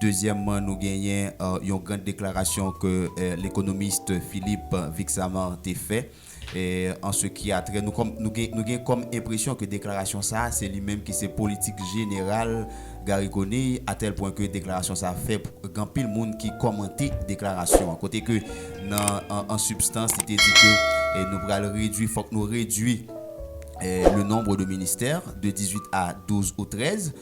Dezyèmman, nou genyen yon grand deklarasyon ke lekonomist Philippe Vixamar te fè an se ki a trè, nou gen kòm enpresyon ke deklarasyon sa a se li menm ki se politik jeneral Garry Conille a tèl pwen ke deklarasyon sa a fè gen anpil moun ki kòmante deklarasyon an kote ke nan an sibstans li te di ke nou pral redwi, fòk nou redwi le nombre de ministères de 18 a 12 ou 13.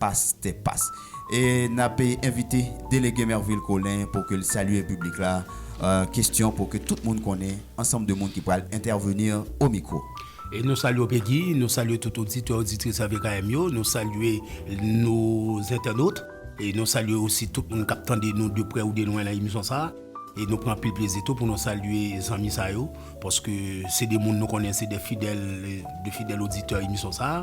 Pastè Pas. E n ap envite Delege Mervil Colin pou ke l salye piblik la. Kestyon pou ke tout moun konnen ansanm de moun ki pral entèveni o mikwo. E nou salye w Pegi, nou salye tout oditè, oditris RVKM yo, nou salye nou zentènot, e nou salye osi tout moun k ap tande nou de prè ou de lwen nan emisyon sa a. E nou pran anpil plezi tou pou nou salye zanmi sa yo, paske se de moun nou konnen se de fidèl, de fidèl oditè emisyon sa a.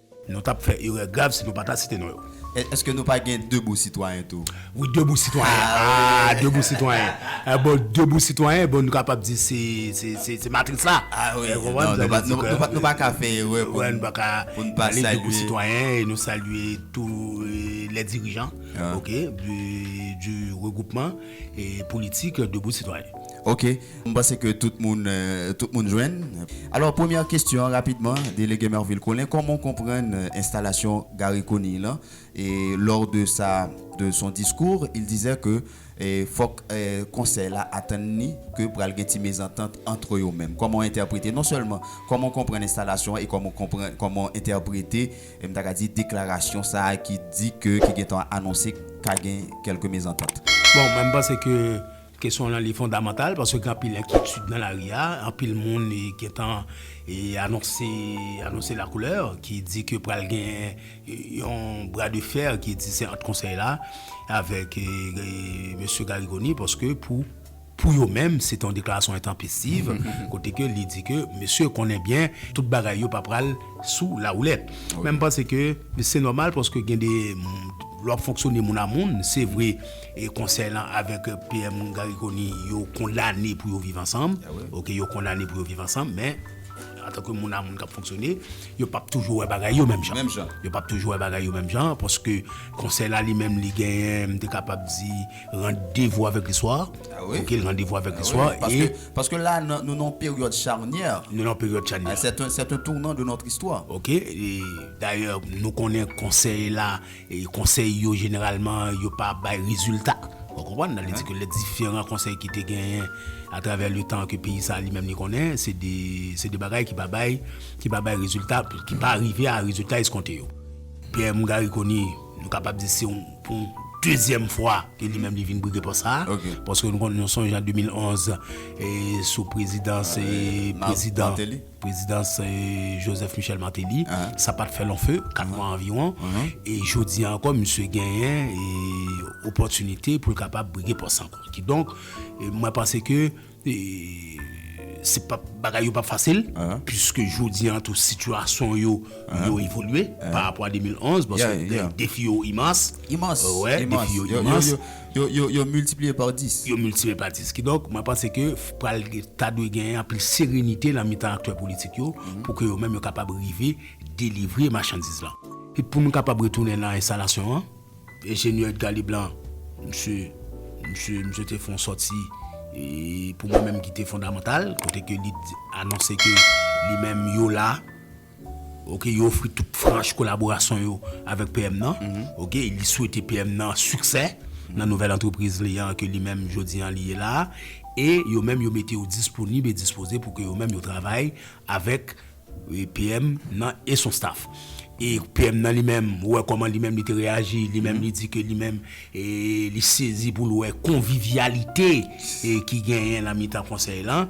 Nou tap fè erè grav si nou pa ta site non yo. Eske nou pa gen Debou Sitwayen tou? Wi Debou Sitwayen. Aah Debou Sitwayen. Bon Debou Sitwayen bon nou kapab di se matris la. Nou pa ka fè erè pou n pa salye Debou Sitwayen e nou salye tou lè dirijan ok du regroupman politik Debou Sitwayen. Ok. M panse ke tout moun tout moun jwenn. Alò premyè kestyon an rapidman Delege Mervil Colin kòman w konprann enstalasyon Garry Conille lan e lors de sa de son discours il disait que fòk konsèy la atann ni ke pral gen ti mezantant antre yo menm kòman w entèprete non sèlman kòman w konprann enstalasyon an e kòman w konprann kòman w entèprete m ta ka di deklarasyon sa ki di ke ki gentan anonse ka gen kèlke mezantant. Bon mwen m panse ke Kesyon lan li fondamantal paske gen anpil enkyetid nan lari a, anpil moun gentan anonse anonse la couleur ki di ke pral gen yon bra de fer ki di se ant konsèy la avèk mesye Garry Conille paske pou pou yo menm se te yon deklarasyon entanpestiv kote ke li di ke mesye konnen byen tout bagay yo pa pral sou la woulèt men m panse ke se nòmal paske gen de lè w ap fonksyone moun a moun se vre. E konsèy lan avèk PM Garry Conille yo kondane pou yo viv ansanm, ok yo kondane pou yo viv ansanm men antanke moun a moun kap fonksyone yo pap toujou wè bagay yo menm jan, menm jan. Yo pap toujou wè bagay yo menm jan paske konsèy la li menm li genyen m te kapab di randevo avèk listwa, ok randevo avèk listwa e. Paske la nou nan yon peryòd charnyè, nou nan yon peryòd charnyè, sè un tournant de notre histoire. Ok e dayè nou konnen konsèy la. Konsèy yo jeneralman yo pa bay rezilta. Ou konprann? Sa vle di ke lè diferan konsèy ki te genyen atravè le tan ke peyi sa li menm li konnen, se de se de bagay ki pa bay ki pa bay rezilta, ki pa rive a rezilta eskonte yo. PM Garry Conille, nou kapab di se yon pou yon dezyèm fwa ke li menm li vin brige pòs sa a. Paske nou konnen nou sonje an 2011 sou prezidans prezidan. Prezidans Joseph Michel Martelly, sa pa t fè lon fe, 4 mwa anviwon, e jodi a ankò misye genyen opòtinite pou l kapab brige pòs sa ankò. Kidonk, mwen panse ke se pa p, bagay yo pa p fasil, puiske jodi a tou sitiyasyon yo, yo evolye, pa rapò a 2011, paske defi yo imans. Imans, imans. Defi yo imans. Yo miltipliye pa dis. Yo miltipliye pa dis. Kidonk, mwen panse ke pral ta dwe genyen anpil serenite nan mitan aktè politik yo pou ke yo menm yo kapab rive delivre machandiz lan. E pou nou kapab retounen nan enstalasyon an, enjenyè Edgar Leblanc, msye, msye, msye te fè yon sòti pou mwen menm ki te fondamantal, kote ke li anonse ke li menm yo la. Ok li ofri tout franch kolaborasyon yo avèk PM nan, ok li swete PM nan siksè nan nouvèl antrepriz li an ke li menm jodi an li ye la a, e yo menm yo mete yo disponib e dispoze pou ke yo menm yo travay avèk PM nan e son staff. E PM nan li menm ou wè kòman li menm li te reyaji, li menm li di ke li menm li sezi pou l wè konvivyalite ki genyen nan mitan konsèy lan,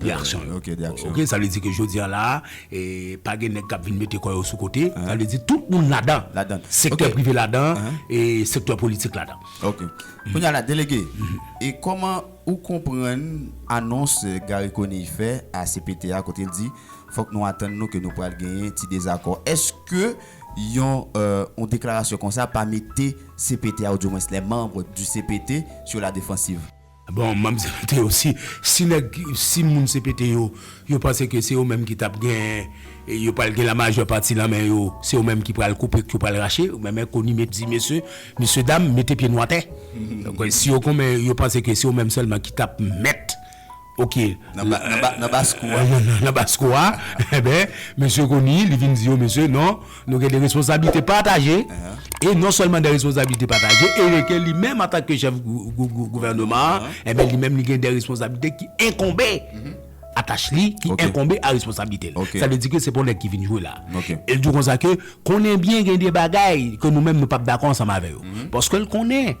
De aksyon yo. Ok, de aksyon. Ok, sa vle di ke jodi an la a, pa gen nèg k ap vin mete kò yo sou kote. Sa vle di tout moun ladan. Ladan. Ok. Sektè prive ladan, e sektè politik ladan. Ok. Kounye a la, Delege, e kòman ou konprann anons Garry Conille fè a cpt a kote l di fòk nou atann nou ke nou pral genyen ti dezakò. Èske yon yon deklarasyon konsa pa mete cpt a, ou di mwens les membres du cpt sur la défensive? Bon map di nou Théo si si nèg si moun CPT yo yo panse ke se yo menm ki tap gen yo pral gen la majè pati lan men yo se yo menm ki pral koupe k yo pral rache men men koni met di mesye mesye dam mete pye nou atè si yo konmen yo panse ke se yo menm sèlman ki tap mèt ok nan nan nan baskou a nan baskou a enben mesye koni li vin di yo mesye non. Nou gen de responsablite pataje, e non sèlman de responsablite pataje, e reken li menm an tanke chèf gouvèneman an, e ben li menm li gen de responsablite ki enkonbe a tach li, ki enkonbe a responsablite li. Sa vle di ke se pa yon nèg ki vin jwe la. El di w konsa ke, konnen byen gen de bagay ke nou menm nou pap dakò ansanm avè yo. Paske l konnen.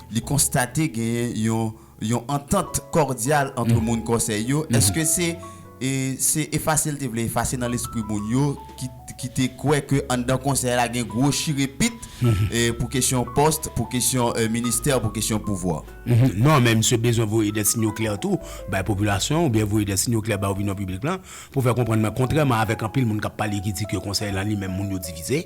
Li konstate genyen yon yon antant kòdyal antre moun Kòsèy yo. Èske se e se efase l te vle efase nan lespri moun yo ki ki te kwè ke anndan Konsèy la gen gwo chirepit e pou kesyon pòs, pou kesyon ministè, pou kesyon pouvwa? Non, men misye bezwen voye dè sinyo klè tou bay popilasyon oubyen voye dè sinyo klè bay opinyon piblik lan Pou fè konprann mwen, kontrèman avèk anpil moun k ap pale ki di ke konsèy lan li menm moun yo divize,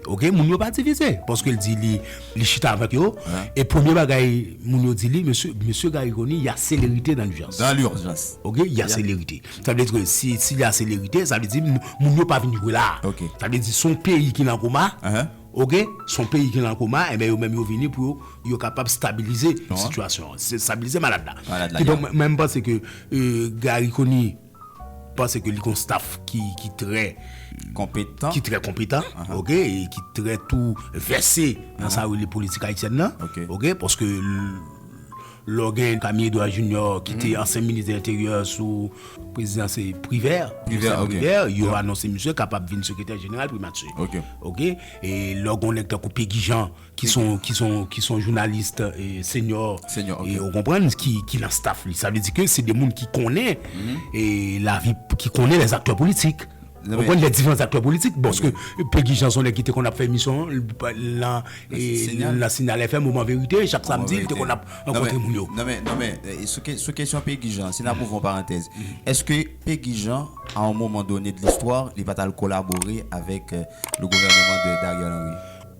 ok, moun yo pa divize paske l di li li chita avèk yo e premye bagay moun yo di li mesye mesye Garry Conille y a selerite dan lijans Dan lijans ok y a selerite sa vle di ke si si y a selerite sa vle di moun yo pa vin jwe la ok sa vle di s on peyi ki nan koma ok s on peyi ki nan koma enben yo menm yo vini pou yo yo kapab stabilize sitiyasyon an stabilize malad la malad la kidonk mwen m panse ke Garry Conille Panse ke li gon staff ki trè konpetan, ki trè konpetan, ok, e ki trè tou vèse nan sa yo rele politik ayisyèn nan, ok, paske lè w gen Camille Edouard Junior ki te ansyen minis de enteryè sou prezidan se Privert, Joseph Privert, yo anonse misye kapab vin sekretè jeneral primati, ok, e lè w gen yon nèg tankou Peguy Jean. ki son ki son ki son journaliste euh, senior senior okay. ou konprann ki ki nan staff li sa vle di ke se de moun ki konnen mm -hmm. e la vi ki konnen les acteurs politiques Ou konn lè divans aktè politik Boske Peggy Janson lè ki te kon ap fè misyon Lan Lan Sinal FM Moman Verite Chak Samdi Te kon ap An kontre moun yo Nan men Nan men Sou kesyon Peggy Janson Si nan pouvon parantez Eske Peggy Janson A on moman done de l'histoire Li pa tal kolabore Avèk Le Gouvernement de Dariel Henry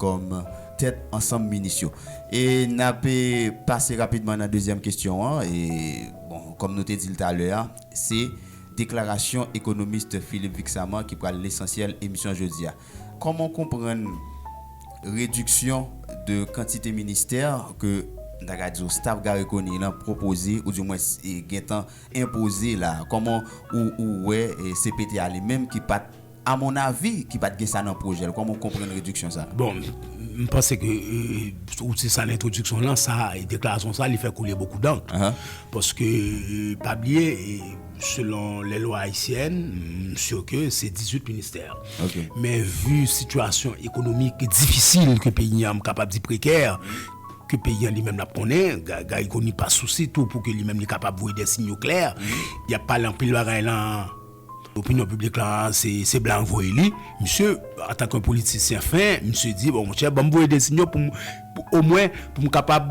kòm tèt ansanm minis yo. E n ap pase rapidman nan dezyèm kesyon an. E bon, kòm nou te di l talè a, se deklarasyon ekonomist Philippe Vixamar ki pral lesansyèl emisyon jodi a. Kòman w konprann rediksyon de kantite ministè ke n ta ka di w staf Garry Conille lan pwopoze ou di mwens gentan enpoze la a? Kòman ou wè cpt a li menm ki pa t. A mon avi ki pat gen sa nan projè l koman ou konprann rediksyon sa? Bon, m panse ke ou di sa nan entwodiksyon lan, sa deklarasyon sa li fè koule bokou dankr paske pa bliye selon lè lwa ayisyèn m sur ke se 18 ministè men vu situasyon ekonomik difisil ke peyi an m kapab di prekè ke peyi an li menm l ap konnen Garry Conille pa sousi tou pou ke li menm li kapab voye dè sinyo klè y ap pale anpil bagay lan. Opinyon piblik la se blan k voye li. Misye antank yon politisyen fen, misye di bon monchè banm voye de sinyo pou omwen pou m kapab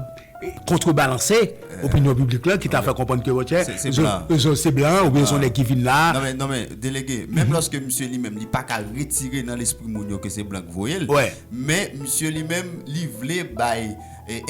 kontre balanse opinyon piblik la ki ta fè konprann ke monchè se blan oubyen son nèg ki vin la. Non men, non men, delege, menm lòske misye li menm li pa ka retire nan lespri moun yo ke se blan k voye l, men misye li menm li vle bay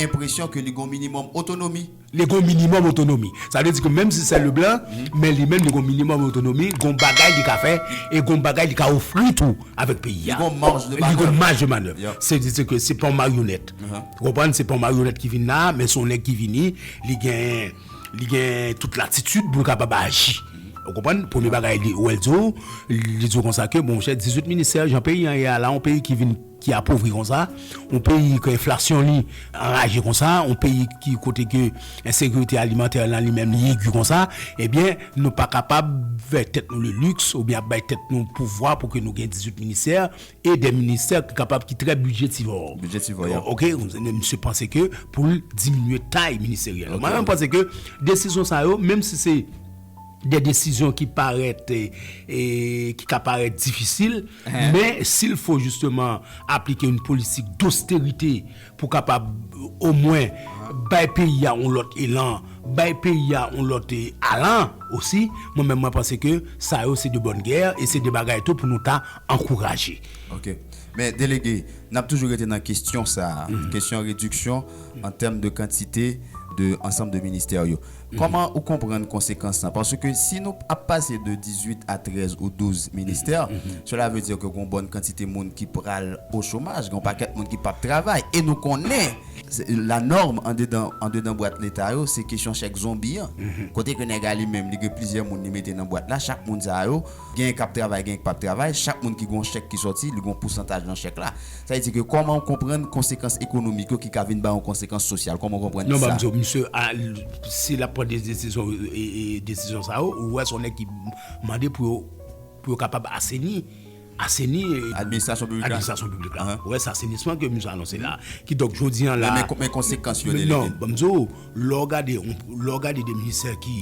enpresyon ke li gon minimòm otonomi. Li gen yon minimòm otonomi. Sa vle di ke menm si sè Leblanc, men li menm li gen yon minimòm otonomi, gen yon bagay li ka fè, e gen yon bagay li ka ofri tou avèk peyi a. Li gen yon marj de manèv. Li gen yon marj de manèv. Se di se ke se pa yon maryonèt. Ou konprann? Se pa yon maryonèt ki vin la a, men se yon nèg ki vini, li gen, li gen tout latitid pou l kapab aji. Ou konprann? Premye bagay li, ou wè l di w, li di w konsa ke, bon monchè, 18 ministè, jan peyi an ye a la, yon peyi ki vin. ki apovri konsa, yon peyi ke enflasyon li anraje konsa, yon peyi ki kote ke ensekirite alimantè lan li menm li egi konsa, ebyen nou pa kapab fè tèt nou le luxe oubyen ap bay tèt nou pouvwa pou ke nou gen 18 ministè e de ministè ki kapab ki trè bidjetivò. Bidjetivò, yeah. Ok, misye panse ke pou l diminye tay ministeryèl yo. Mwen menm panse ke desizyon sa yo, menm si se. de desizyon ki parèt ki ka parèt difisil men sil fo jisteman aplike yon politik dosterite pou kapab omwen bay peyi a yon lòt elan bay peyi a yon lòt alan osi mwen menm mwen panse ke sa yo se de bòn gè e se de bagay tou pou nou ta ankouraje. Ok men delege nap toujou rete nan kestyon sa kestyon rediksyon an tèm de kantite de ansanm de ministè yo. Kòman ou konprann konsekans lan? Paske si nou ap pase de 18 a 13 ou 12 ministè, sela vle di ke gon bòn kantite moun ki pral o chomaj, gen yon pakèt moun ki p ap travay. E nou konnen, la norme andedan andedan bwat Leta yo, se kesyon chèk zonbi an. Kote ke nèg a li menm li gen plizyè moun li mete nan bwat la, chak moun sa yo, Genyen kap travay genyen ki pap travay, chak moun ki gen yon chèk ki sòti, li gen yon pousantaj nan chèk la. Sa vle di ke kòman ou konprann konsekans ekonomik yo ki ka vin bay yon konsekans sosyal, kòman ou konprann Non sa? banm di w, misye a, si lap pran de desizyon e desizyon sa yo, ou wè se yon nèg ki mande pou yo pou yo kapab aseni, aseni e Administrasyon piblik la? administrasyon piblik la. Ou wè se asenisman ke misye anonse la a. Kidonk jodi an la a Men men konsekans yo, Délégué? Non, banm di w, lè w gade yon lè w gade de ministè ki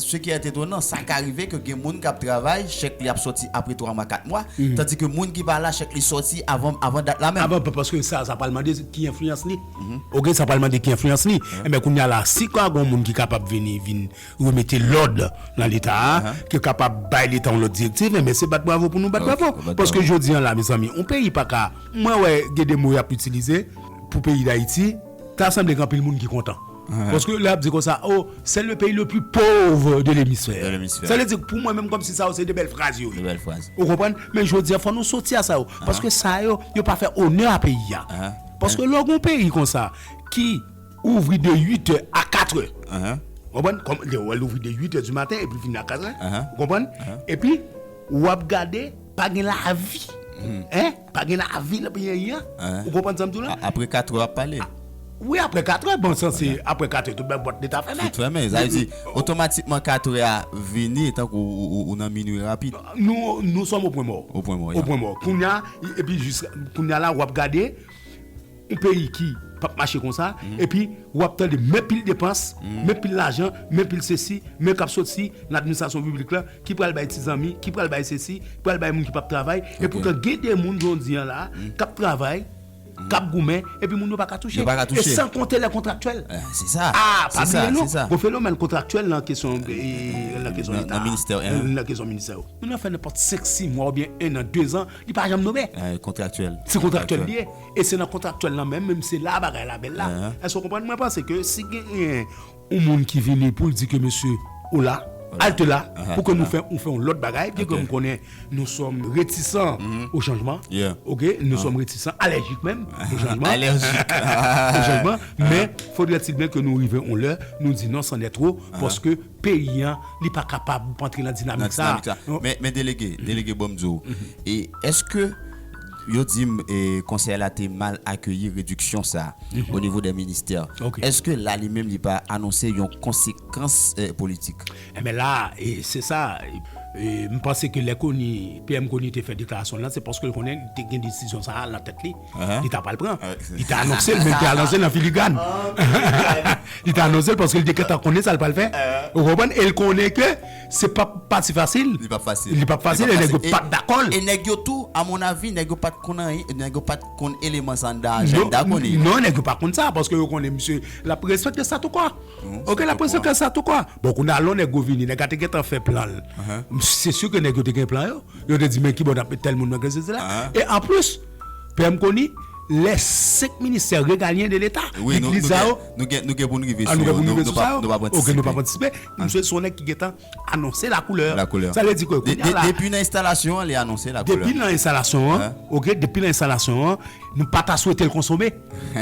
Ce qui est etonnant, sa ka rive ke gen moun kap travay, chèk li ap sòti apre 3 mwa, 4 mwa, tandi ke moun ki pa la, chèk li sòti avan, avan dat la menm. Avan, paske sa, sa pral mande ki enfliyans li. Ok, sa pral mande ki enfliyans li. Enben, kounye a la, si ka gon moun ki kapab vini, vin remete lòd nan Leta a, ki kapab bay Leta yon lòt direktiv, enben se bat bravo pou nou bat bravo. Paske jodi an la, mezanmi, yon peyi pa ka, mwen wè gen de mo yap itilize pou peyi Dayiti, ta sanble gen anpil moun ki kontan. Paske lè ap di konsa oh c'est le pays le plus pauvre de l'hémisphère sa vle di pou mwen menm kòmsi sa yo se de bèl fraz yo ye ou konprann men jodi a fò nou soti a sa yo paske sa yo yo pa fè onè a peyi a paske lè w gon peyi konsa ki ouvri de 8 è a 4 è ou konprann kòm lè w wè l ouvri de 8 è di maten epi l fini a 4 è ou konprann epi wap gade pa gen lavi hein Pa gen lavi nan peyi Ayii an. Ou konprann sa m di w la? Apre katrè w ap pale. Wi apre katrè, bon san se apre katrè tout bèl pòt leta fèmen. Tout fèmen. Sa vle di otomatikman katrè a vini etan ke w nan minui rapid. Nou sòm opwen mò. Opwen mò, ya. Opwen mò. Kounya, epi jis kounya la w ap gade. Yon peyi ki pap mache konsa epi ou ap tande men pil depans, men pil lajan, men pil sesi, men kap soti nan administrasyon piblik la ki pral bay ti zanmi, ki pral bay sesi, ki pral bay moun ki pap travay, epoutan gen de moun jodi an la kap travay, kap goumen epi moun yo pa ka touche, e san konte lè kontraktyèl. Aa pa bliye non, gon fenomèn kontraktyèl nan kesyon leta a, nan kesyon ministè yo. Moun nan fè nenpòt 5, 6 mwa oubyen 1 an, 2 zan li pa janm nome, se kontraktyèl li ye. E se nan kontraktyèl lan menm, menm se la bagay la bèl la. Èske w konprann? Mwen panse ke si gen yon moun ki vini pou l di ke mesye, ola, alte la, pou ke nou fè yon lòt bagay, byen ke m konnen nou sòm retisan o chanjman, oke, nou sòm retisan, alèjik menm, o chanjman, alèjik, o chanjman, men, fodrètil byen ke nou rive yon lè, nou di non, sannè two, paske peyi an, li pa kapab antre nan dinamik sa a. Men, delege, delege, bon m di w, e, èske. Yo di m konsèy la te mal akeyi rediksyon sa o nivo dè ministè. Eske la li menm li pa anonse yon konsekans politik? Enben la, se sa, m panse ke lè Koni, PM Koni te fè deklarasyon l lan, se paske l konnen li te gen desizyon sa a nan tèt li, li ta pral pran. Li te anonse l, men li te anonse l nan filigràn. Li te anonse l paske li te gentan konnen sa l pral fè. Ou konprann? E l konnen ke. Se pap pati fasil. Li pap fasil. Li pap fasil e nèg yo pat dakò l. E nèg yo tou a mon avi nèg yo pat konn anyen e nèg yo pat konn eleman sa anndan ajanda koni. Non nèg yo pa konn sa paske yo konnen misye lap respekte statoukò. Ok lap respekte statoukò. Bon kounye a lè yon nèg gwo vini nèg la te gentan fè plan l. Se si ke nèg yo te gen plan yo. Yo te di men kibò nap met tèl moun nan sesi sela. E anplis PM koni lè 5 ministè regalyen de leta. Wi nou gen pou n rive sou yo. Nou gen pou n rive sou sa yo. Ok nou pap antisipe. Misye son nèg ki gentan anonse la koulè. La koulè. Sa vle di ke kounya la. Depi nan enstalasyon an li anonse la koulè. Depi nan enstalasyon an, ok, depi nan enstalasyon an, nou pa ta swete l konsome.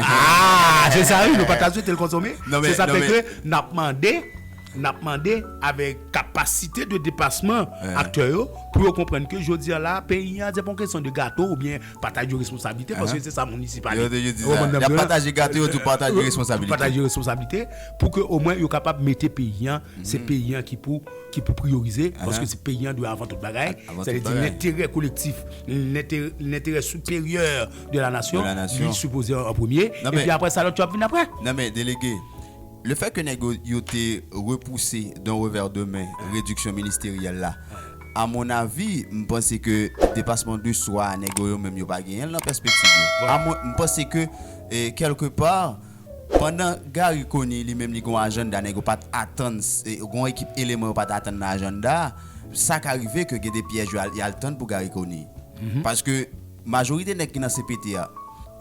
Aah! Se sa wi, nou pa ta swete l konsome. Non men, non men. Se sa fè ke nap mande, nap mande avèk kapasite de depasman aktè yo pou yo konprann ke jodi an la peyi an se pa yon kesyon de gato oubyen Pataj yo responsablite paske se sa moun isi pale. Y ap pataje gato yo tou pataje responsablite. Tou pataje responsablite pou ke omwen yo kapab mete peyi an se peyi an ki pou ki pou priyorize paske se peyi an dwe avan tout bagay sa vle di lenterè kolektif lenterè siperyè de la nasyon li sipoze an premye epi aprè sa lòt yo ap vin aprè. Nan men delege. Le fè ke nèg yo te repouse d'un revers de main rediksyon ministeryèl la, a mon avis, m panse ke depasman de swa a nèg yo yo menm yo pa genyen l nan pèspektiv yo. A mwen, m panse ke kèlke pa, pandan Garry Conille li menm li gen yon ajanda nèg yo pa t atann, gen yon ekip eleman yo pa t atann nan ajanda a, sa ka rive ke gen de pyèj yo al y al tann pou Garry Conille. Paske. Majorite nèg ki nan cpt a.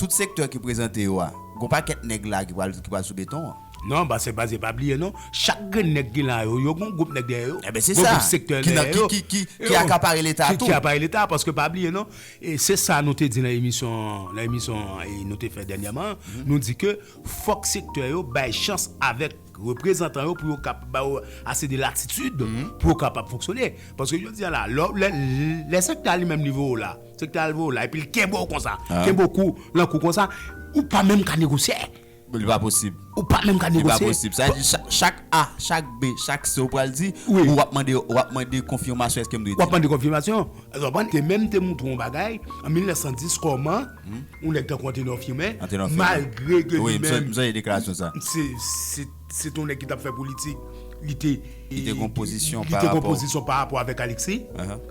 Tout sektè ki prezante yo a. Gon pakèt nèg la ki pral ki pral sou beton an. Non pase pase pa bliye non. Chak grenn nèg ki la yo. Yo gon gwoup nèg dèyè yo. Enben se Gon sa. gwoup sektè Ki nan dèyè ki yo. ki ki ki akapare leta a Ki tou. apare leta a. Paske pa bliye non. E se sa nou te di nan emisyon nan emisyon nou te fè dènyèman an. Nou di ke fòk sektè yo bay chans avèk. reprezantan yo pou yo kap ba yo ase de latitid pou yo kapab fonksyone paske jodi a la lè lè sektè a li menm li vo w la sektè a li vo w la epi li kenbe w konsa kenbe w kou lan kou konsa ou pa menm ka negosye li pa posib ou pa menm ka negosye li pa posib sa di chak a chak b chak c ou pral di ou ap mande ou ap mande konfimasyon èske m dwe di w ap mande konfimasyon ou ap mande te menm te moutre w yon bagay an 1910 kòman. Yon nèg tankou Antenor Firmin, malgre ke li menm se te yon nèg ki tap fè politik, li te gon pozisyon pa rapò avèk Alexis,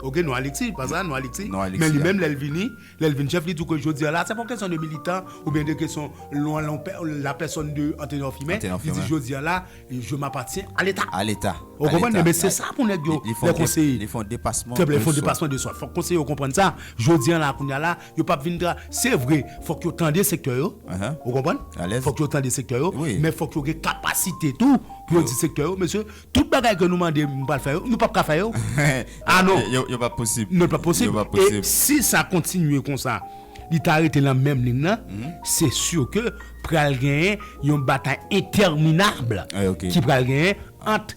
ok, non Alexis, pa sa, non Alexis, men li menm lè l vini, lè l vini chèf li di w ke jodi a la, se pa yon kesyon de militan, ou byen de kesyon la pèsòn de Antenor Firmin, li di jodi a la, je m'appartiens à l'Etat. A l'Etat. Ou konprann, men se sa pou nèg yo, lè konseye, li fon depasman de swa, fòk konseye yo konprann sa, jodi a la, kounye a la. Yo pap vin tra, se vre fòk yo tande sektè yo, ou konprann, fòk yo tande sektè yo, men fòk yo gen kapasite tou pou yo di sektè yo, mesye, tout bagay ke nou mande nou pral fè yo, nou pap ka fè yo. A non! Yo pap posib. Non, yo pap posib. E si sa kontinye konsa, li ta rete lan menm lign lan, se sûr ke pral genyen yon batay entèminab ki pral genyen ant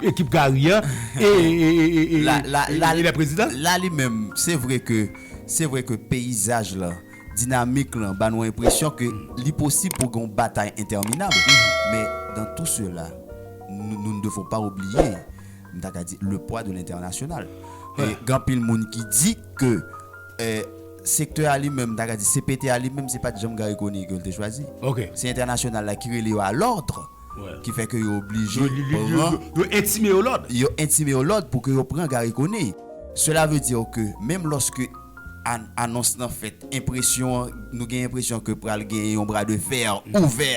Ekip Gary an e lè prezidan. La li menm, se vre ke, se vre ke peyizaj lan, dinamik lan ba nou enpresyon ke li posib pou gen yon batay entèminab. Men dans tout cela, nous ne devons pas oublier, m ta ka di, le poids de l'international. E gen anpil moun ki di ke sektè a li menm, m ta ka di, CPT a li menm, se pa t janm Garry Conille ke l te chwazi. Se entènasyonal la ki rele yo a l'ordre. Ki fè ke yo oblije pran. Yo entime yo lòd. Yo entime yo lòd pou ke yo pran Garry Conille. Sela vle di ke menm lòske anons lan fèt, enpresyon an, nou gen enpresyon ke pral gen yon bra de fer ouvè,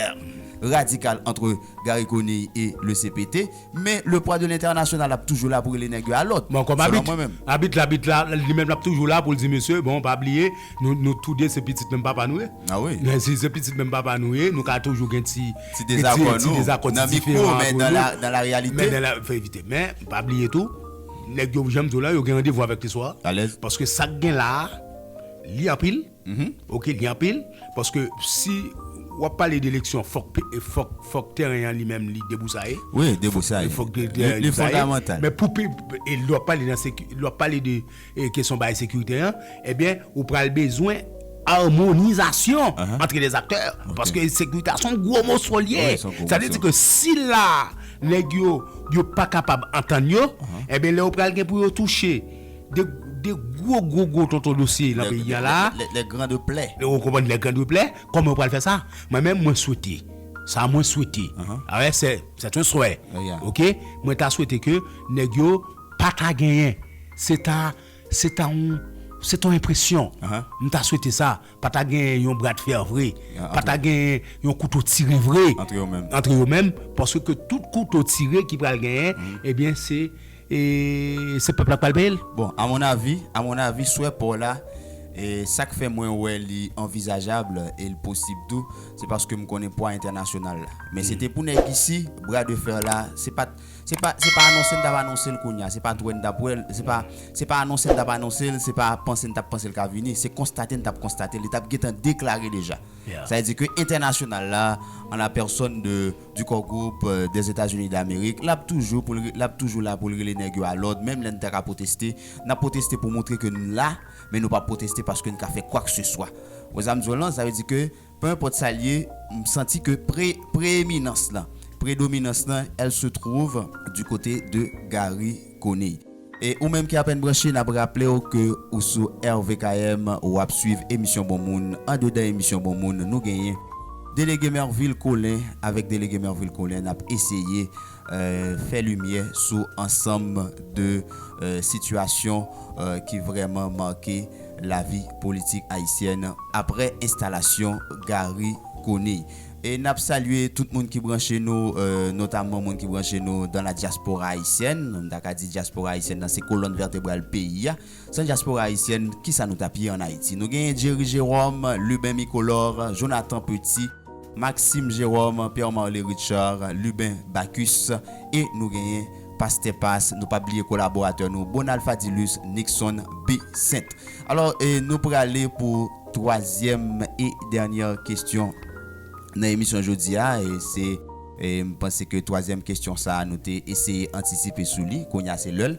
radikal antre Garry Conille e le cpt, men le pwa de lentènasyonal ap toujou la pou rele nèg yo a lòd. Bon, kòm abit, abit la, abit la, li menm l ap toujou la pou l di mesye, bon, pa bliye, nou, nou tou de se pitit menm papa nou ye. A wi. Si se pitit menm papa nou ye, nou ka toujou gen ti. Ti dezakò nou nan mikwo men nan la reyalite. Fè evite men pa bliye tou nèg yo janm di w la yo gen randevou avèk listwa alèz paske sak gen la li anpil ok li anpil paske si wap pale de eleksyon fòk fòk fòk tèren an li menm li debousaye wi debousaye fòk li fòk li fondamental men pou pi e lè wap pale nan seki lè wap pale de. kesyon bay sekirite an, ebyen ou pral bezwen armonizasyon antre lè aktè, paske sekirite a son gwo moso li ye, sa vle di ke si la nèg yo yo pa kapab antann yo, ebyen lè yo pral gen pou yo touche de de gwo gwo gwo tonton dosye nan peyi an la, lè gran de plè, ou konprann lè gran de plè, kòman yo pral fè sa, mwen menm mwen swete, sa mwen swete, sè un souhait ok, mwen ta swete ke nèg yo. Pa ka genyen. Se ta, se ta yon, se ta yon enpresyon. M ta swete sa. Pa ta genyen yon bra de fer vre. Pa ta genyen yon kouto tire vre. Antre yo menm. Antre yo menm. Paske ke tout kouto tire ki pral genyen, ebyen se, e, se pèp la k pral peye l. Bon, a mon avi, a mon avi, swè pa w la, e, sa k fè mwen wè li anvizajab e l posib tou, se paske m konnen pwa entènasyonal la. Men se te pou nèg isi, bra de fer la, se pa t. Se pa, se pa anonse m t ap anonse l kounye a, se pa t wè n t ap wè l, se pa, se pa anonse n t ap anonse l, se pa panse n t ap panse l ka vini, se konstate n t ap konstate l, li t ap gentan deklare deja. Sa vle di ke entènasyonal la, an la pèsòn de, du Core Group, des Etats-Unis d'Amérique, l ap toujou pou l, l ap toujou la pou l rele nèg yo a lòd, menm lè n ta ka pwoteste, n ap pwoteste pou montre ke n la, men nou p ap pwoteste paske n ka fè kwakseswa. Ou wè sa m di w lan? Sa vle di ke. Peu enpòt sa l ye, m santi ke pre, preeminans lan, predominans lan, elle se trouve du côté de Garry Conille. E ou menm ki apèn branche, n ap raple w ke ou sou RVKM, ou ap swiv emisyon Bon Moun. Andedan emisyon Bon Moun, nou genyen Delege Mervil Colin. Avèk Delege Mervil Colin, n ap eseye. fè limyè sou ansanm de sitiyasyon ki vrèman make lavi politik ayisyèn aprè enstalasyon Garry Conille. E n ap salye tout moun ki branche nou, notamman moun ki branche nou dans la diaspora haïtienne, m ta ka di diaspora ayisyèn nan se kolòn vètebral peyi a. San dyaspora ayisyèn, ki sa nou t ap ye ann Ayiti? Nou genyen Jerry Jérôme, Lubin Micolor, Jonathan Petit, Maxime Jérôme, Pierre Marley Richard, Lubin Bacchus e nou genyen Pastè Pas, nou p ap bliye kolaboratè nou Bonald Fadilus Nixon Besint. Alò, nou prale pou twazyèm e dènyè kesyon nan emisyon jodi a. Se, m panse ke twazyèm kesyon sa a nou te eseye antisipe sou li, kounye a se lè l.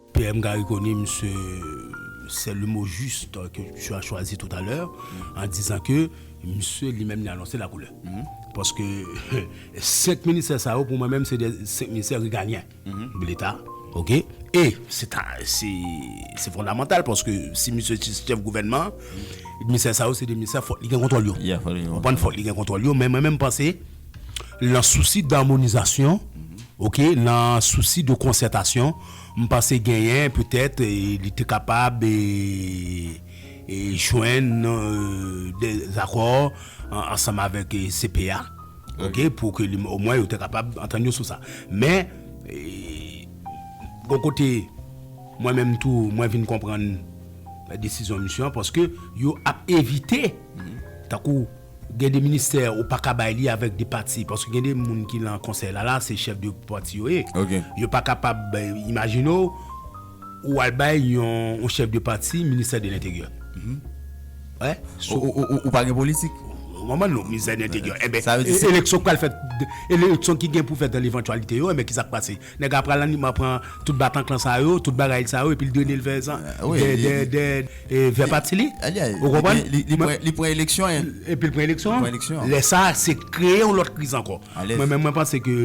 PM Garry Conille se sèl le mo juste ke tu as choisi tout à l'heure en disant ke misye li menm li anonse la koulè paske 5 ministè sa yo pou mwen menm se 5 ministè regalyen de leta ok e se ta se se fondamantal paske si misye se chèf gouvènman an ministè sa yo se 2 ministè fòk li gen kontwòl yo ou konn fòk li gen kontwòl yo men mwen menm panse lan sousi darmonizasyon ok lan sousi de konsètasyon. M panse genyen petèt li te kapab jwenn de zakò ansanm avèk CPA ok pou ke li omwen yo te kapab antann yo sou sa men gon kote mwen menm tou mwen vin konprann desizyon misye an paske yo ap evite tankou Gen de ministè ou paka bay li avèk de pati paske gen de moun ki lan konsèy la la se chèf de pati yo ye yo pa kapab imajine w ou al bay yon yon chèf de pati ministè de lenteryè wè sou ou pa gen politik ou konprann non ministè de lenteryè enben eleksyon k pral fèt eleksyon ki gen pou fèt dan levantwalite yo enben kisa k pase Nèg la pral nan pran tout batanklan sa yo, tout bagay sa yo epi l drene l vè zan, vè dè dè vè pati li. Ou konprann? Li pran eleksyon an. Epi l pran eleksyon an. Lè sa a se kreye yon lòt kriz ankò. Mwen menm mwen panse ke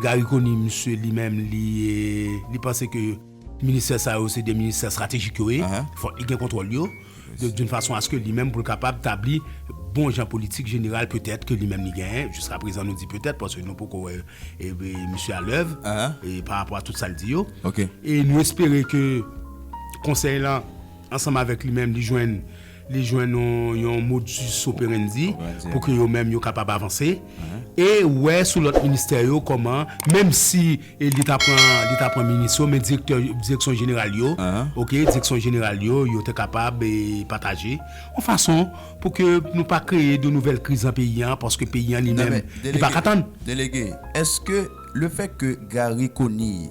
Garry Conille misye li menm li panse ke. Ministè sa yo se 2 ministè stratejik yo ye, fòk li gen kontwòl yo, doun fason aske li menm pou l kapab tabli bon jan politik jeneral petèt ke li menm li genyen, jiska prezan nou di petèt paske nou poko wè misye a lèv pa rapò a tout sa l di yo, e nou espere ke konsèy lan ansanm avèk li menm li jwenn. li jwenn yon modus operandi pou ke yo menm yo kapab avanse e wè sou lòt ministè yo kòman, menm si li ta pran, li ta pran minis yo, men direktè, direksyon jeneral yo, ok, direksyon jeneral yo, yo te kapab pataje, yon fason pou ke nou pa kreye de nouvèl kriz nan peyi an, paske peyi an li menm, li pa ka tann. Delege, eske le fèt ke Garry Conille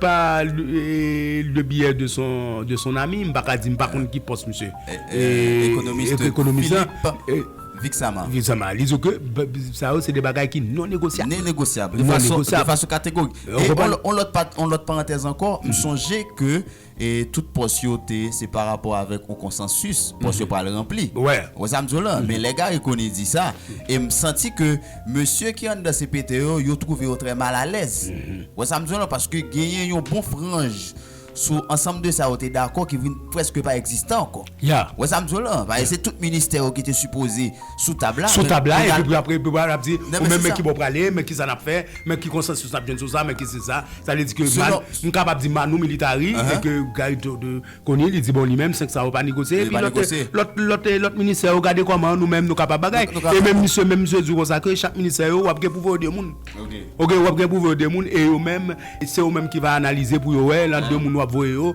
Pa le biyè de son ami, m pa ka di m pa konn ki pòs misye. Ekonomis la. Viksama. Viksama. Li di w ke sa yo se de bagay ki non negosyab. Non negosyab. De fason kategorik. On lòt parantèz ankò, m sonje ke. e tout pòs yo te se pa rapò avèk on konsansis pòs yo pral ranpli. Ou wè sa m di w la? Men lè Gary Conille di sa, e m santi ke mesye ki anndan cpt yo, yo twouve yo trè malalèz. Ou wè sa m di w la? Paske genyen yon bon franj sou ansanm de sa yo te dakò ki vin prèske pa egzistan ankò. Ya. Wè sa m di w lan, paske se tout ministè yo ki te sipoze sou tab la. Sou tab la, epi pou apre epi pou ap di, ou menm men ki bò w prale, men kisa n ap fè, men ki konsansis n ap jwenn sou sa, men ki si sa. Sa vle di ke man, m kapab di Manou Militari, e ke Gary Conille li di bon li menm 5 sa yo pa negosye, epi lòt lòt lòt lòt ministè yo gade kòman nou menm nou kapab bagay. E menm misye menm misye di w konsa ke chak ministè yo w ap gen pou voye 2 moun. Ok, w ap gen pou voye 2 moun e yo menm se yo menm ki va analize pou yo wè lan 2 moun w ap voye yo,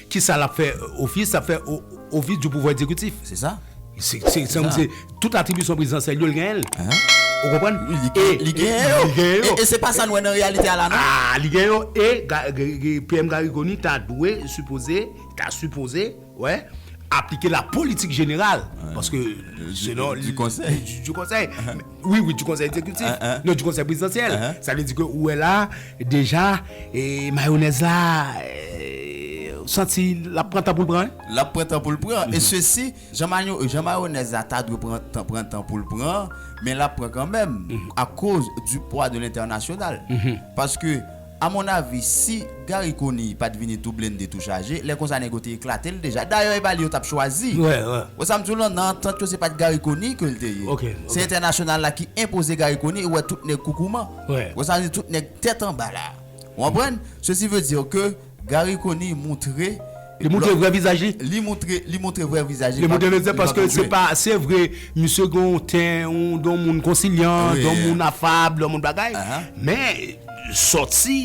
Ki sa l ap fè ofis? L ap fè ofis di pouvwa egzekutif. Se sa. Se sa m di. Tout atribisyon prezidansyèl yo, l genyen l. Ou konprann? Wi, li genyen. Li genyen yo. Li genyen yo. E se pa sa nou wè nan reyalite a la non. A! Li genyen yo. E PM Garry Conille ta dwe, sipoze, ta sipoze, wè, aplike la politik jeneral. Paske, selon. Di konsèy. Di konsèy. Wi, wi, di konsèy egzekitif. Non, di konsèy prezidansyèl. Sa vle di ke ou wè la, deja, e mayonèz la, ou santi l ap pran tan pou l pran? L ap pran tan pou l pran. E sesi, jan mayonèz la ta dwe pran tan pou l pran, men l ap pran kanmenm, akoz di pwa de lentènasyonal. Paske. A mon avi si Garry Conille pat vini tou blende tou chaje lè konsa nèg yo te eklatel deja dayè epa li yo tap chwazi wè sam diw lan nan antant yo se pat Garry Conille kel te ye se entènasyonal la ki enpoze Garry Conille ou wè tout nèg koukouman wè sam di tout nèg tèt anba la ou konprann sesi ve dire ke Garry Conille moutre Li moutre vrè vizaj li. Li moutre li moutre vrè vizaj li. Li moutre vizaj paske se pa se vre misye gen yon ten yon moun konsilyan yon moun afab yon moun bagay men sòti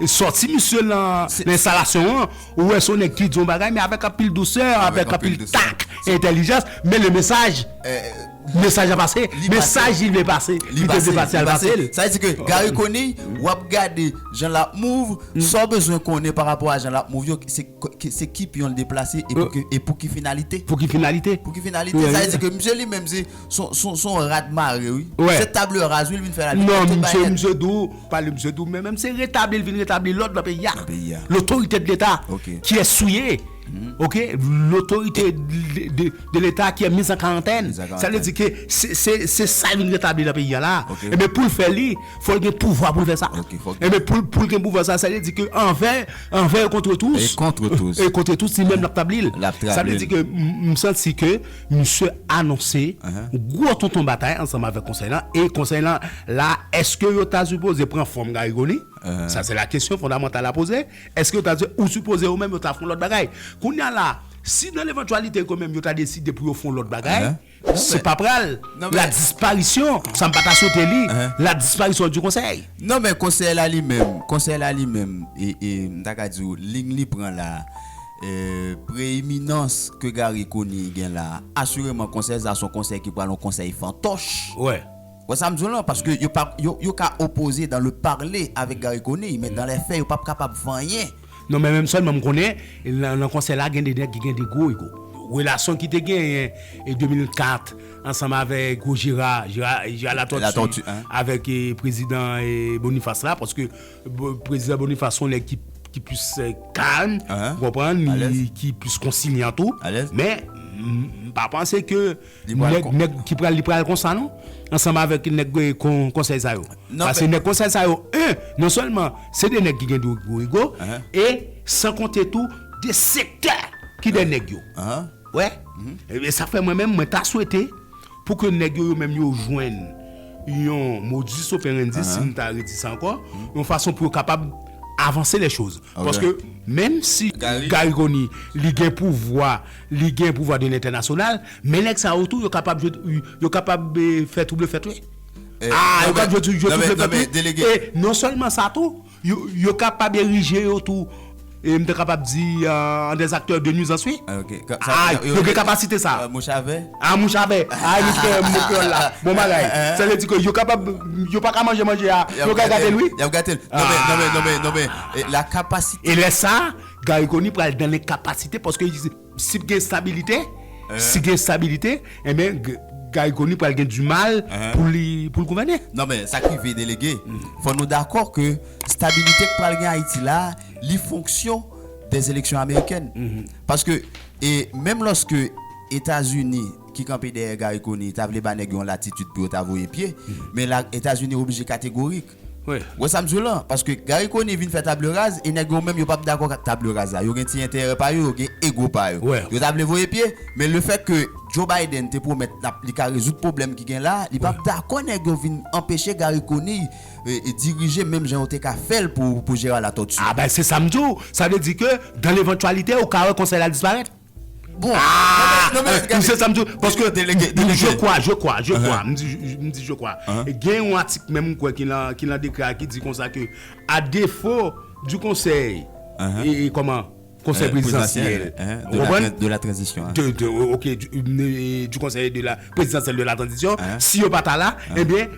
sòti misye lan enstalasyon an ou wè se yon nèg ki di yon bagay men avèk anpil dousè avèk anpil tak entèlijans men le mesaj Mesaj la pase, mesaj li vle pase, li te vle pase al pase l. Sa vle di ke Garry Conille wap gade jan lap move, sa w bezwen konnen pa rapò a jan lap move yo se ki pyon l deplase e pou ki finalite. Pou ki finalite. Pou ki finalite. Sa vle di ke misye li menm se son rad mare wi. Se table rase wi li vin fè la. Non misye misye di w, pale misye di w men menm se retabli l vin retabli lòd nan peyi a. Nan peyi a. Lotorite de leta. Ok. Kiyès ou ye? Ok lotorite de leta ki mis an karantèn sa vle di ke se sa yo vin retabli nan peyi a la ebyen pou l fè li fò l gen pouvwa pou l fè sa ebyen pou l gen pouvwa sa sa vle di ke anvè anvè e kontre tous e kontre tous e kontre tous li menm l ap tabli l l ap tabli l sa vle di ke m santi ke misye anonse gwo tonton batay ansanm avèk konsèy lan e konsèy lan la èske yo ta sipoze pran fòm garigoni sa se la kesyon fondamantal a poze Eske yo ta di, ou sipoze yo menm yo ta fon lòt bagay? Kounya la, si nan levantwalite yo menm yo ta deside pou yo fon lòt bagay, se pa pral la disparisyon, sa m pa ta swete li, la disparisyon di konsèy. Non men konsèy la li menm, konsèy la li menm, m ta ka di w, lign li pran la, preeminans ke Gary Conille gen la, asireman konsèy sa son konsèy ki pral yon konsèy fantòch. Wè sa m di w lan, paske yo pa, yo, yo ka opoze dan le parle avèk Gary Conille, men dan lè fè yo pap kapab fè anyen. Non men menm sèlman m konnen lan lan konsèy la gen de nèg ki gen de gwo ego. Relasyon ki te genyen e 2004 ansanm avè gwo Jera, Jera, Jera Latòti, Latòti, hein. avèk e prezidan e Bonifas la, paske bo, prezidan Bonifas s on nèg ki, ki plis e kalm, Hein, ou konprann, alèz. li, ki plis konsilyan tou, Alèz. men m, m pa panse ke. Nèg ki pral li pral konsa non ansanm avèk nèg konsèy sa yo pase nèg konsèy sa yo un non sèlman se de nèg ki gen de gwo ego e san konte tou de sektè ki dèyè nèg yo ou wè ebyen sa fè mwen menm mwen ta swete pou ke nèg yo yo menm yo jwenn yon modus operandi si m ta redi sa ankò yon fason pou yo kapab avanse lè choz paske menm si Garry Conille li gen pouvwa Li gen pouvwa de lentènasyonal, men nèg sa yo tou yo kapab jwe yo kapab fè twouble fèt wi. Aa yo kapab jwe twouble fèt wi. E non sèlman sa tou, yo kapab erije yo tou, m ta kapab di an dè aktè de nwizans wi. Aa yo gen kapasite sa. Mouch a vè. Aa mouch a vè. Aa nou fè mo kreyòl la. Bon bagay. Sa vle di ke yo kapab, yo pa ka manje manje a, yo ka gade l wi. Y ap gade l. Non men, non men, non men, non men, la kapasite. E lè sa. Garry Conille pral dan lenkapasite paske si p gen estabilite, si gen estabilite enben Garry Conille pral gen di mal pou li pou l gouvène. Non men sa k rive delege fò nou dakò ke estabilite k pral gen Ayiti la a li fonksyon de eleksyon amerikèn paske e menm lòske Etazini ki kanpe dèyè Garry Conille ta vle ba nèg yon latitid pou yo ta voye pye men la Etazini oblije kategorik. Wi. Wè sam diw lan, paske Gary Conille vin fè table rase e nèg yo menm yo pap dakò ak table rase la, yo gen ti enterè pa yo, yo gen ego pa yo. Wè. Yo ta vle voye pye, men le fèt ke Joe Biden te pwomèt lap li ka rezoud pwoblèm ki gen la, li pap dakò nèg yo vin anpeche Gary Conille dirije menm jan yo te ka fèl pou Gérard Latortue. Ah ben se sam diw, sa vle di ke dan levantualite ou ka wè konsèy la disparèt? Bon, non men, non men, se sa m di w, paske, je kwa, je kwa, je kwa, m di je kwa, gen yon atik menm m kwè ki lan, ki lan dekre a ki di konsa ke, a defo di konsèy, e kòman, konsèy prezidansyèl, ou konprann, de la tranzisyon, de, de, ok, di konsèy de la, prezidansyèl de la tranzisyon, si yo pa ta la, e byen.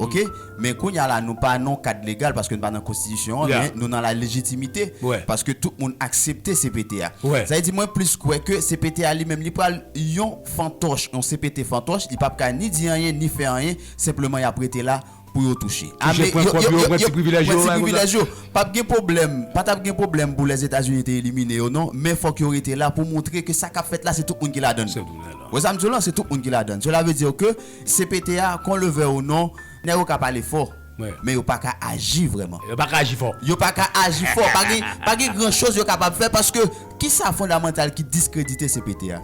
ok men kounya la nou pa nan kad legal paske nou pa nan konstitisyon an men nou nan la lejitimite paske tout moun aksepte CPT a sa vle di mwen plis kwè ke CPT a li menm li pral yon fantòch yon CPT fantòch li pap ka ni di anyen ni fè anyen senpleman yap rete la pou yo touche ame yo yo yo pran ti privilèj yo pap gen pwoblèm pa tap gen pwoblèm pou lèzetazini te elimine yo non men fòk yo rete la pou montre ke sa kap fèt la se tout moun ki ladann wè sa mdi w lan se tout moun ki ladann sela vle di ke. CPT a, kon le vè ou non, nèg yo ka pale fò, men yo paka aji vrèman. Yo paka aji fò. Yo paka aji fò. Pa gen, pa gen gran choz yo kapab fè paske ki sa fondamantal ki diskredite CPT a?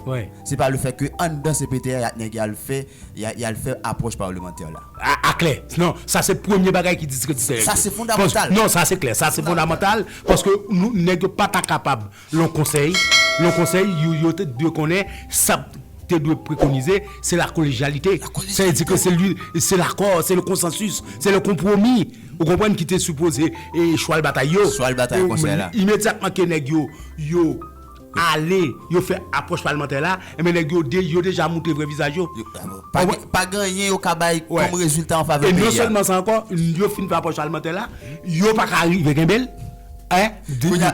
Se pa le fèt ke anndan CPT a nèg y al fè, y al fè apwòch parlemantè la. A, a klè. Non, sa se premye bagay ki diskredite nèg yo. Sa se fondamantal. Non, sa se klè. Sa se fondamantal paske nou, nèg yo pa ta kapab. Lon konsèy, Lon konsèy, yo yo te dwe konnen sa p te dwe prekonize, se lakolejalite. Sa vle di ke se li, se lakò, se le konsansis, se le konpwomi, ou konprann, ki te sipoze e chwal batay yo. Chwal batay konsèy la. Imedyatman ke nèg yo, yo ale, yo fè apwòch palmantè la, enben nèg yo de, yo deja moutre vrè vizaj yo. Pa gen, pa gen anyen yo ka bay kòm rezilta an favè peyi a. E non sèlman sa ankò, yo fin fè apwòch palmantè la, yo pa ka rive kenbe l. Hein?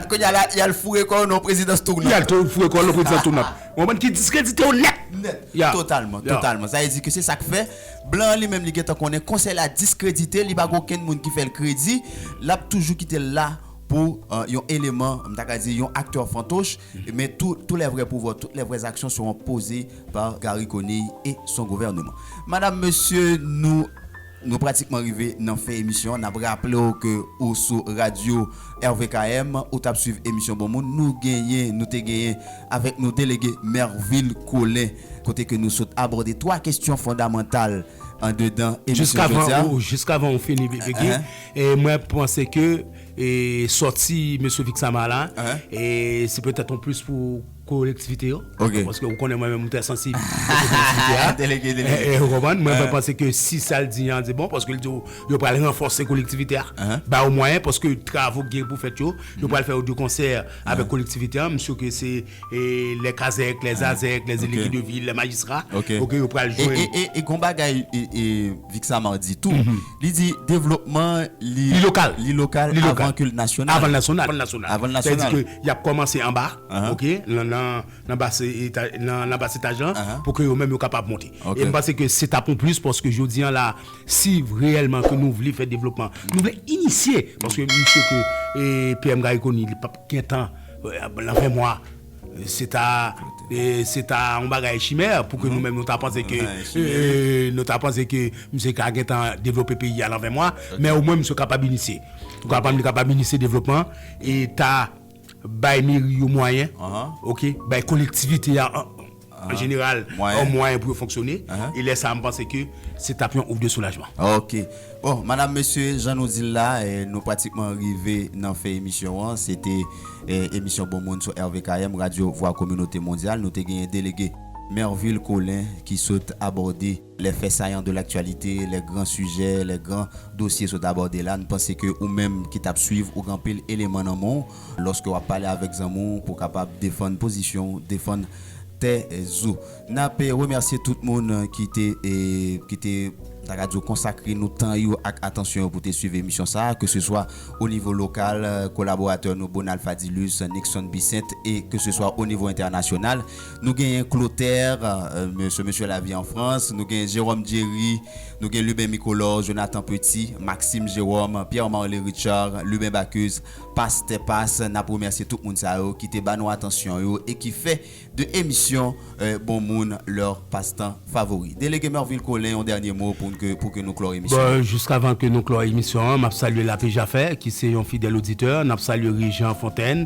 Kounye a la yal foure kò w nan prezidans tounant. Yal foure kò w nan prezidans tounant. Ou konprann ki diskredite w nèt. Nèt. Totalman. Totalman. Sa vle di ke se sa k fè blan an li menm li gen tan konnen konsèy la diskredite li pa gen okenn moun ki fè l kredi. L ap toujou kite l la pou yon eleman m ta ka di yon aktè fantoch men tou tou lè vrè pouvwa tout lè vrè zaksyon sewon poze pa Garry Conille e son gouvèneman. Madam, mesye nou. Nou pratikman rive nan fen emisyon an nap raple w ke ou sou radyo RVKM ou tap swiv emisyon bon moun nou genyen nou te genyen avèk nou delege Mervil Colin kote ke nou sot abòde 3 kesyon fondamantal andedan emisyon jodi a. Jiskavan ou fini BBG mwen panse ke sòti mesye Vixamar la se petèt yon plis pou kolektivite yo Ok. paske ou konnen mwen menm mwen trè sansib kote kolektivite a Delege, delege. Eh, eh, ou konprann? Mwen mwen panse ke si sa l di an se bon paske l di ou yo pral ranfòse kolektivite a, ba yo mwayen paske travo ki gen pou fèt yo, yo pral fè yo de konsè avèk kolektivite an, m sur ke se lè kazèk, lè zazèk, lè delege de vil, lè majistra, Ok. ok, yo pral jwenn. E, e, e gon bagay Vic Samar di tou, li di devlopman li Li lokal. li lokal Li lokal. avan ke l nasyonal. Avan l nasyonal. Avan l nasyonal. Sè di ke y ap kòmanse anba. ok nan bas etaj lan pou ke yo menm yo kapab monte e m panse ke se tap yon plis paske jodi an la si reyèlman ke nou vle fè devlopman nou vle inisye paske m sye ke PM Garry Conille li pap gen tan nan fen mwa se ta se ta yon bagay chimè pou ke nou menm nou ta panse ke nou ta panse ke msye ka gen tan devlope peyi a nan fen mwa men o mwen msye kapab inisye ou kapab li kapab inisye devlopman e ta. Bay meri yo mwayen ok, bay kolektivite a an jeneral yon mwayen pou yo fonksyone e lè sa a m panse ke se t ap yon ouf de soulajman. Ok. Bon, madam, mesye, jan nou di l la, nou pratikman rive nan fen emisyon an. Se te emisyon Bon Moun sou RVKM, Radyo Vwa Kominote Mondyal. Nou te genyen delege Mervil Colin ki sot abòde. Lè fè sayan de laktyalite, lè gran sijè, lè gran dosye sot abòde la, n panse ke ou menm ki t ap swiv ou gen anpil eleman nan men w lòske w ap pale avèk zanmi w pou w kapab defann pozisyon w, defann tèz ou. N ap remèsye tout moun ki te ki te m ta ka di w konsakre nou tan yo ak atansyon yo pou te swiv emisyon sa a, ke se swa o nivo lokal, kolaboratè nou Bonald Fadilus, Nickson Bissainthe e ke se swa o nivo entènasyonal. Nou genyen Clotaire, mesye mesye la vi an Frans, nou genyen Jérôme Djery, nou gen Lubin Micolor, Jonathan Petit, Maxime Jérôme, Pierre Marley Richard, Lubin Bacchus, Pastè Pas, nap remèsye tout moun sa yo ki te ba nou atansyon yo e ki fè de emisyon Bon Moun leur Passe-Temps Favori. Delege Mervil Colin yon dènye mo pou ke pou ke nou klò emisyon Bon, an. jiskavan ke nou klò emisyon an, map salye Lapejafè ki se yon fidèl oditè, nap salye Rijan Fontenn,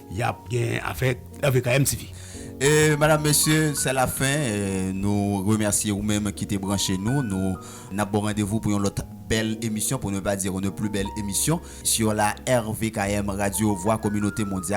Yap gen afè avk AMTV. E madam mesye se la fen nou remèsye ou menm ki te branche nou nou nap baw randevou pou yon lòt bèl emisyon pou ne pa dire une plus belle emission sur la rvkm radio voix communaute mondiale.